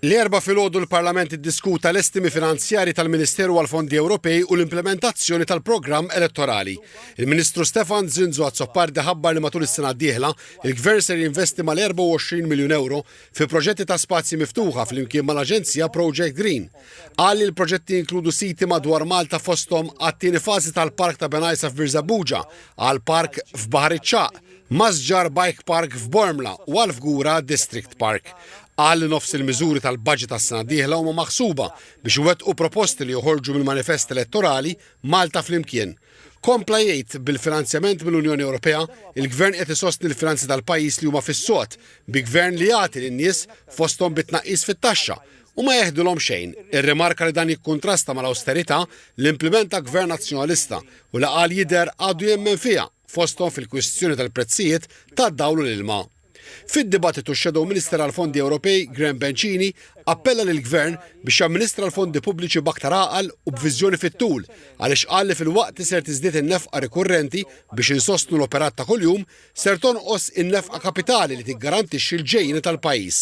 L-Erbgħa filgħodu l-Parlament iddiskuta l-estimi finanzjarji tal-Ministeru għall-Fondi Ewropej u l-implimentazzjoni tal-programm elettorali. Il-Ministru Stefan Zrinzo Azzopardi ħabbar li matul is-sena d-dieħla, il-Gvern ser jinvesti mal-24 miljun ewro fi proġetti ta' spazji miftuħa flimkien mal-aġenzija Project Green. Qal li l-proġetti jinkludu siti madwar Malta fosthom għat-tieni fażi tal-Park ta' Benajsa f'Birżebbuġa għal park f'Baħar iċ-Ċagħaq Masġar Bike Park f'Bormla u għal Fgura District Park. Qal li nofs il-miżuri tal-budget għas-sena d-dieħla huma maħsuba biex iwettqu proposti li joħorġu mill-manifest elettorali Malta Flimkien. Kompla jgħid bil-finanzjament mill-Unjoni Ewropea, il-Gvern qed isostni l-finanzi tal-pajjiż li huma fis-sod, bi Gvern li jagħti lin-nies fosthom bi tnaqqis fit-taxxa u ma jeħdilhom xejn, irrimarka li dan jikkuntrasta mal-awsterità li implimenta Gvern Nazzjonalista u li qal jidher għadu jemmen fiha. fosthom fil-kwistjoni tal-prezzijiet tad-dawl u l-ilma. Fid-dibattitu x-Shadow Minister għall-Fondi Ewropej, Graham Bencini, appella lill-Gvern biex jamministra l-fondi pubbliċi b'aktar għaqal u b'viżjoni fit-tul għaliex qal li filwaqt li ser tiżdied in-nefqa rikurrenti biex insostnu l-operat ta' kuljum, ser tonqos in-nefqa kapitali li tiggarantixxi l-ġejjieni tal-pajjiż.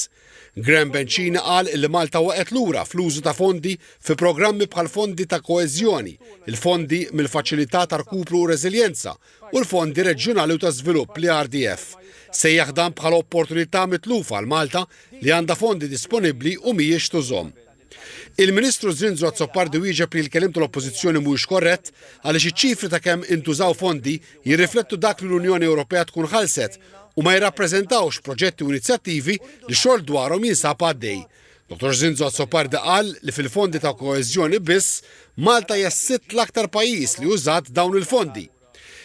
Graham Bencini qal li Malta waqgħet lura fl-użu ta' fondi fi programmi bħall-fondi ta' koeżjoni, il-fondi mill-Faċilità ta' Rkupru u Reżiljenza u l-Fondi Reġjunali u ta' Żvilupp, l-ERDF. Sejjaħ dan bħala opportunità mitlufa għal Malta li għandha fondi disponibbli u mhijiex tużhom. Il-Ministru Zrinzo Azzopardi wieġeb li l-keliem tal-Oppożizzjoni mhuwiex korrett għaliex iċ-ċifri ta' kemm intużaw fondi jirriflettu dak li l-Unjoni Ewropea tkun ħallset u ma jirrappreżentawx proġetti u inizjattivi li xogħol dwarhom jinsab għaddej. Dottor Zrinzo Azzopardi qal li fil-fondi ta' koeżjoni biss Malta hija s-sitt l-aktar pajjiż li użat dawn il-fondi.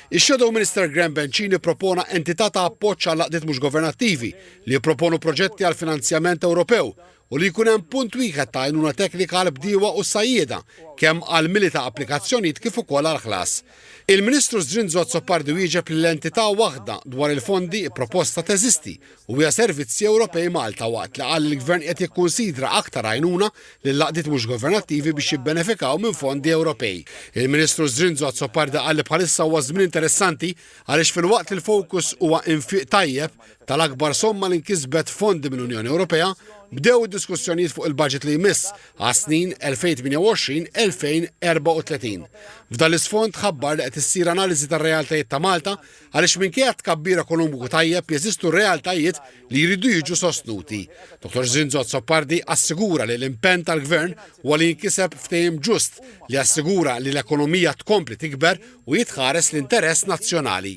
Ix-Shadow Minister Graham Bencini ppropona entità ta' appoġġ għall-għaqdiet mhux governattivi li jipproponu proġetti għall-finanzjament Ewropew u li jkun hemm punt wieħed ta' għajnuna teknika għall-bdiewa u s-sajjieda, kemm għall-mili ta' applikazzjonijiet kif ukoll għall-ħlas. Il-Ministru Zrinzo Azzopardi wieġeb li l-entità waħda dwar il-fondi pproposta teżisti u hija Servizzi Ewropej Malta waqt li qal li l-Gvern qed jikkunsidra aktar għajnuna lill-għaqdiet mhux governattivi biex jibbenefikaw minn fondi Ewropej. Il-Ministru Zrinzo Azzopardi qal li bħalissa huwa żmien interessanti għaliex filwaqt li l-fokus huwa infiq tajjeb, tal-akbar somma li nkisbet fondi mill-Unjoni Ewropea, bdew id-diskussjonijiet fuq il-budget li jmiss għas-snin 2028-2034. F'dan l-isfond ħabbar li qed issir analiżi tar-realtajiet ta' Malta għaliex minkejja tkabbir ekonomiku tajjeb jeżistu realtajiet li jridu jiġu sostnuti. Dr. Zinzot Soppardi assigura li l-impenn tal-Gvern huwa li jinkiseb ftehim ġust li assigura li l-ekonomija tkompli tikber u jitħares l-interess nazzjonali.